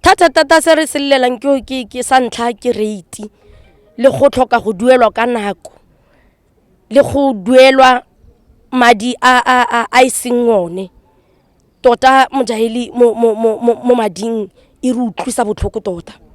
thata-thata se re se llelang ke sa ntlha ke rate le go tlhoka go duelwa ka nako le go duelwa madi a e seng one tota mojaheli mo mading e re utlwisa botlhoko tota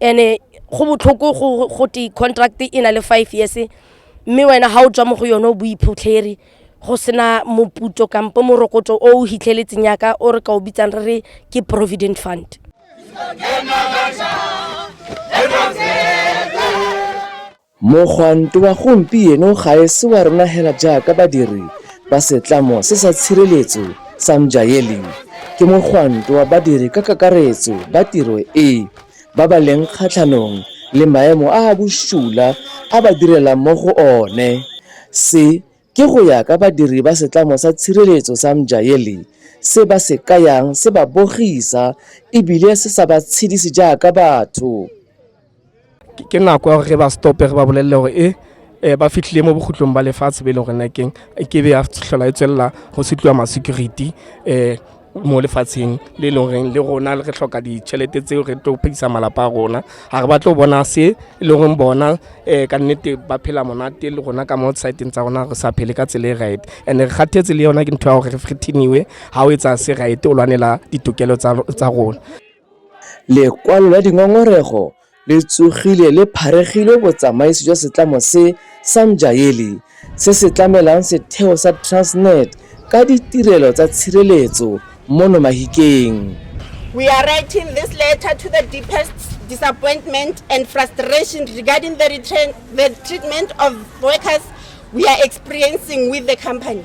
ene go botlhoko go go te contract e na le five years mme wena ga o tswa mo go yone o boiphutlheri go sena moputso kampo morokotso o o hitlheletseng yaka o re ka o bitsang re re ke provident fund Mogwanto wa gompieno ga e se wa rona hela jaaka badiri ba setlamo se sa tshireletso sa Mjaeli, ke mogwanto wa badiri ka kakaretso ba tiro e ba ba leng kgatlhanong le maemo a a bosula a ba direlang mo go one. Se ke go ya ka badiri ba setlamo sa tshireletso sa Mjaeli se ba se kayang se ba bogisa e bile se sa ba tshedise jaaka batho. ke nako ya gore ba stope re ba bolelele gore e eh, ba fitlhile mo bokhutlong ba lefatshe be e leng gore nakeng e ke be ya tlhola e tswelela go se tliwa ma-security um mo lefatsheng le e leng goreng le rona re tlhoka ditšhelete tseo re tlo phedisa malapa a rona ga re batlo bona se e leng goreng bona um ka nnete ba phela monate le rona ka mo siteng tsa rona re sa phele ka tsela e right and re kgathetse le yona ke ntho ya gore re frithiniwe ga o etsa se right o lwanela ditokelo tsa rona Lekwalo la dingongorego le tsogile le pharegilwe botsamaisi jwa setlamo se sa Mjayeli se se tlamelang setheo sa Transnet ka ditirelo tsa tshireletso mono Mahikeng. We are writing this letter to the deepest disappointment and frustration regarding the, the treatment of workers we are experiencing with the company.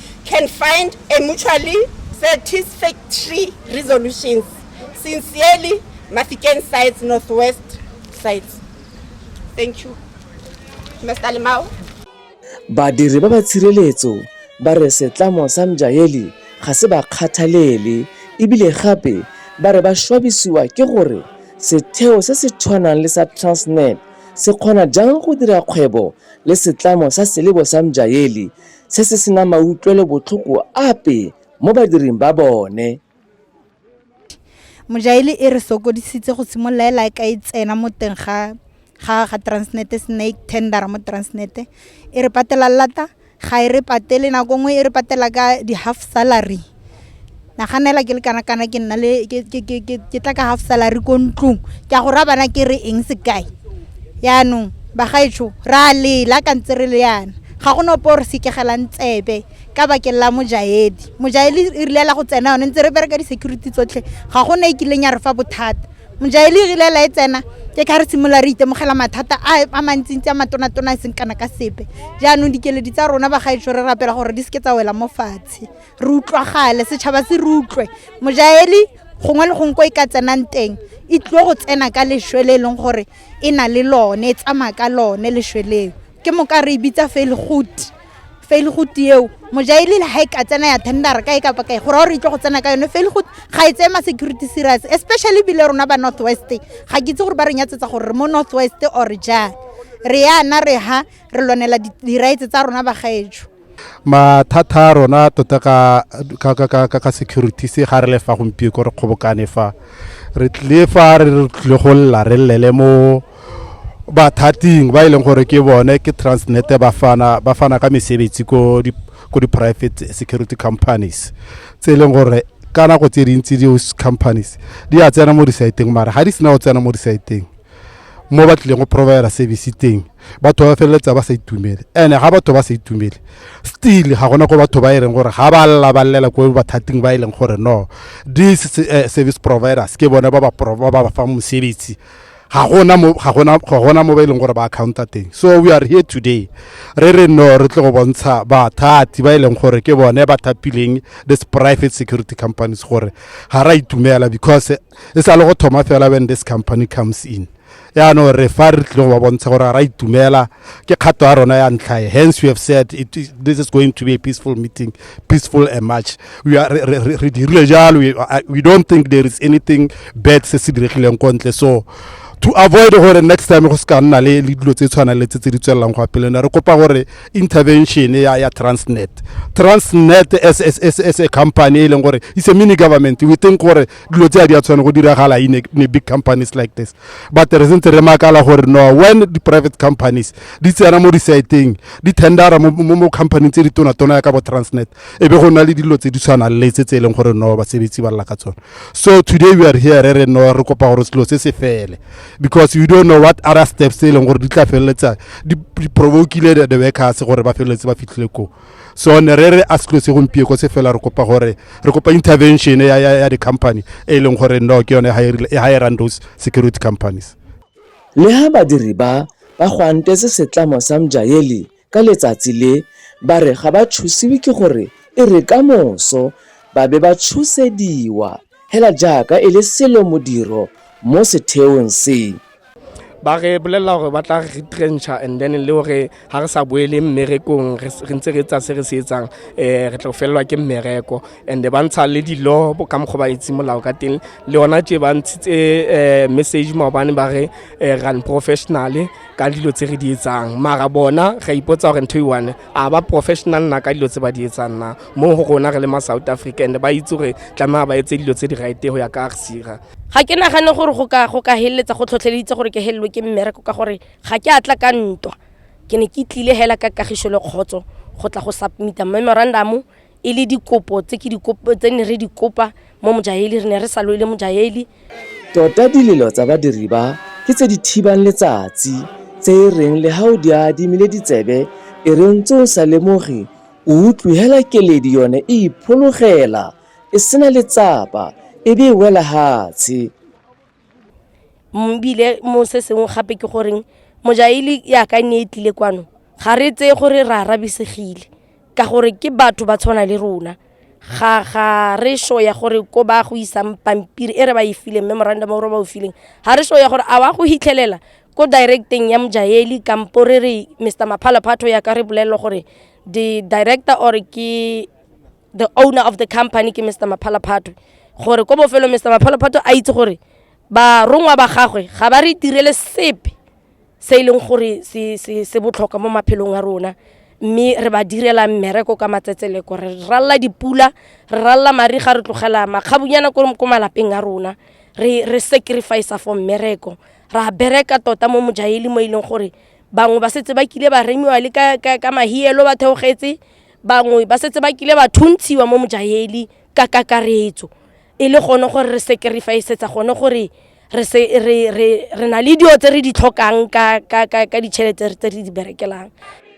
can find a mutually satisfactory resolutions. Sincerely, Mafikeng Sites Northwest Sites. Thank you. Mr. Limau. Badiri ba ba tshireletso ba re setlamo sa Mjaeli ga se ba kgathalele ebile gape ba re ba shwabisiwa ke gore setheo se se tshwanang le sa Transnet se kgona jang go dira kgwebo le setlamo sa selebo sa Mjaeli se se sena mautlwelo botlhoko ape mo badiring ba bone. Mojaeli e re sokodisitse go simolola e lae ka e tsena mo teng ga ga ga Transnet snake tender mo Transnet e re patela lata ga e re patele nako nngwe e re patela ka di half salary. naganela ke le kana kana ke nna le ke ke ke ke ke tla ka half salary ko ntlong ke a go ra bana ke re eng sekae yaanong bagaetsho ra lela ka ntse re le yana ga go nopo re sekegelang tsebe ka bakeng la mojaedi mojaedi e rile la go tsena yone ntse re bereka di-security tsotlhe ga go ne e kileng ya re fa bothata mojaedi e rile la e tsena ke ka re simolola re itemogela mathata a a mantsintsi a matonatona e seng kana ka sepe jaanong dikeledi tsa rona bagaetsho re rapela gore di seke tsa wela mo fatshe re utlwagale setšhaba se re utlwe mojaeli gongwe le gongwe ko e ka tsenang teng e tlile go tsena ka lešwe le e leng gore e na le lone e tsamaya ka lone lešwe leo ke moka re e bitsa failgood failgood eo mojaeli le ga e ka tsena ya tendera ka e kapa kae gore gore e tle go tsena ka yone failgood ga e tseye ma security serious especially ebile rona ba north west ga ke itse gore ba re nyatsetsa gore re mo north west or jang re yana re ha re lwanela di-rights tsa rona bagaetso mathata a rona tota ka ka ka ka ka ka security se ga re le fa gompieko re kgobokane fa re tlile fa re re tlile go lla re llele mo bathating ba e leng gore ke bone ke transnet ba fana ba fana ka mesebetsi ko di ko di-private security companies tse e leng gore ka nako tse dintsi di-use companies di a tsena mo di-siteng mara ga di sena go tsena mo di-siteng mo ba tlileng go provider service teng batho ba feleletsa ba sa itumele and ga batho ba sa itumele still ga gona ko batho ba e leng gore ga ba lla ba llela ko bathating ba e leng gore no this uh, service providers ke bone ba ba ba ba fa mosebetsi ga gona mo ga gona ga gona mo ba e leng gore ba accounta teng so we are here today re re no re tle go bontsha bathati ba e leng gore ke bone ba thapileng this private security companies gore ga ra itumela because e sa le go thoma fela when this company comes in yaanong re fa re tlile go ba bontsha gore ga ra itumela ke kgato ya rona ya ntlhae hence we have said it, is- this is going to be a peaceful meeting peaceful and march we are re- re- re- re dirile jalo we, I- we don't think there is anything bad se se diregileng ko ntle so to avoid gore next time go se ka nna le le dilo tse tshwana le tse tse di tswelelang go apele ne re kopa gore intervention ya ya transnet transnet as, as, as, as a company e leng gore it's a mini government we think gore dilo tse a di a tshwane go diragala in a big companies like this but re sentse re makala gore no when di-private companies di tsena mo di-siteng di tendera mo company tse di tonatona ya ka bo transnet e be go nna le dilo tse di tshwanang le tse tse e leng gore no basebetsi ba lla ka tsone so today we are here re re no re kopa gore selo se se fele because you don't know what other steps tse e leng gore di tla feleletsa di provokile the workers gore ba feleletse ba fitlhile koo so ne re re a se tlose gompieko se fela re kopa gore re kopa intervention ya, ya, ya di-company e leng gore no ke yone e hirang those security companies le ha badiri ba ba gwantetse setlamo sa mjaeli ka letsatsi le ba re ga ba thusiwe ke gore e re ka moso ba be ba tshusediwa hela jaaka e le selo modiro mo setheong se ba re bolelela gore ba tla re retrencha and then le gore ga re sa boele mmerekong re ntse re tsa se re se etsang um re tlo felelwa ke mmereko and ba ntsha le dilo ka mokgwa ba itse molao ka teng le yona tse ba ntshitse um message maobane ba re eh, run professional ka dilo tse re di etsang mara bona ra ipotsa gore ntho e one a ba professional na ka dilo tse ba di etsang na mo go rona re le ma south africa and ba itse gore tlamaa ba etse dilo tse di rite go ya ka arsira ga ke nagane gore go ka go ka heleletsa go tlhotlheleditse gore ke helelwe ke mmereko ka gore ga ke atla ka ntwa ke ne ke tlile hela ka kagiso le kgotso go tla go submita memorandum e le dikopo tse ke dikopo tse ne re di kopa mo mojaheli re ne re sa loile mojaheli tota dilelo tsa badiri ba ke tse di thibang letsatsi tse e reng le ga o di adimile ditsebe e reng tse o sa lemoge O utlwe hela keledi yone e iphologela, e sena letsapa, e be e wela hatshe. Mbile mo se sengwe gape ke goreng mojaili yaka ne e tlile kwano ga re tseye gore re arabisegile ka gore ke batho ba tshwana le rona ga ga re sho ya gore ko ba go isang pampiri e re ba e fileng memorandum o re ba o fileng ga re sho ya gore a wa go hitlhelela ko directeng ya mojaeli kampo re re mr maphala phatho ya ka re bolelelo gore the director or ke the owner of the company ke mr maphala phatho gore ko bofelo mr maphala phatho a itse gore barongwa ba gagwe ga ba re tirele sepe se e leng gore se, se, se botlhokwa mo maphelong a rona mme re ba direla mmereko ka matsetseleko re ralla dipula re ralla mariga re tlogela makgabunyana ko malapeng a rona re, re sacrifice for mmereko ra bereka tota mo mojaheli mo e leng gore bangwe ba setse ba kile ba remiwa le ka, ka, ka mahielo ba theogetse bangwe ba setse ba kile ba thuntshiwa mo mojaheli ka kakaretso e le gone gore re sacrificeetsa gone gore re, se, re, re, re na le dilo tse re di tlhokang ka, ka, ka, ka ditšhelete tse re di berekelang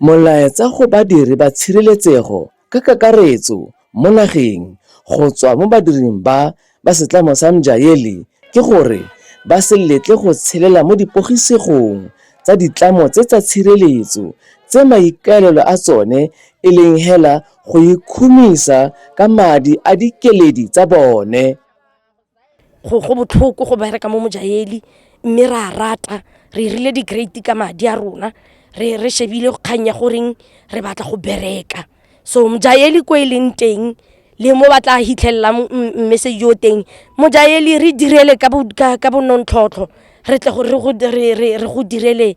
Molaetsa go badiri ba tshireletsego ka kakaretso mo nageng go tswa mo badiring ba ba setlamo sa Mjaeli ke gore ba se letle go tshelela mo dipogisegong tsa ditlamo tse tsa tshireletso tse maikaelelo a tsone e leng hela go ikhumisa ka madi a dikeledi tsa bone. Go botlhoko go bereka mo Mojayeli mme re a rata re 'irile di-great-e ka madi a rona re shebile kgang ya goreng re batla go bereka so Mojayeli ko e leng teng le mo ba tla hitlhelelang message o teng Mojayeli re direle ka bo nonontlhotlho re tle re go direle.